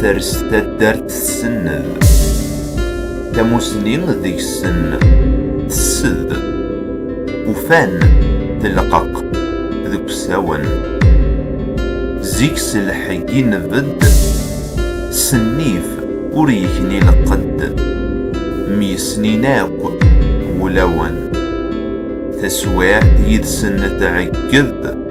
Ters taddart tsenned. Tamusni deg-sen tessed. Ufan telqeq deg usawen. Zik s lḥegg i nbedd. Sennif ur yekni lqedd. Myesnin akk wulawen. Taswiɛt yid-sen tɛegged.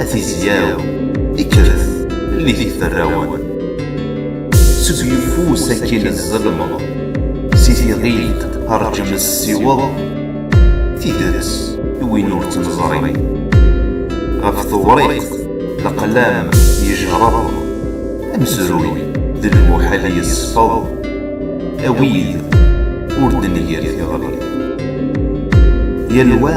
A tizyaw, ikkret, llit iferrawen. Seg yeffus akin tzellmeḍ, si tiɣilt rǧem ssiweḍ, tidet i win ur tt-neẓri. Ɣef tewriqt, leqlam yejreḍ, amezruy d lmuḥal yesfeḍ, a wid ur d-nger tiɣri. Yal wa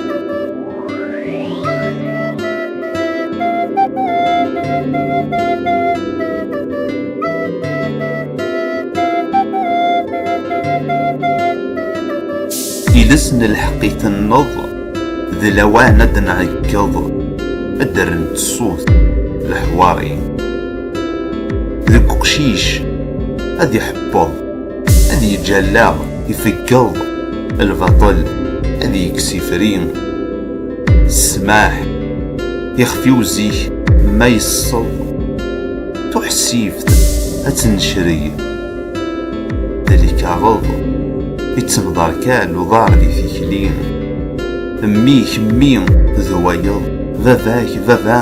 Iles n lḥeqq itenneḍ d lawan ad nɛeggeḍ ad d-rrent ṣṣut leḥwari deg uqcic ad iḥebbeḍ ad yeǧǧ allaɣ ifeggeḍ lbaṭel ad yekkes ifri ssmaḥ ixef-iw zik ma yesseḍ tuḥsift ad tennecreg d lkaɣeḍ ittemḍar kan uḍar di tikli mmi kemmi d wayeḍ baba-k baba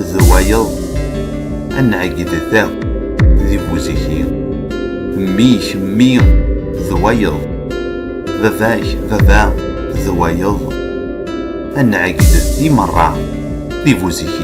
d wayeḍ ad nɛegged ta di buziki mmi-k mmi d wayeḍ baba-k baba d wayeḍ ad nɛegged di merra di buziki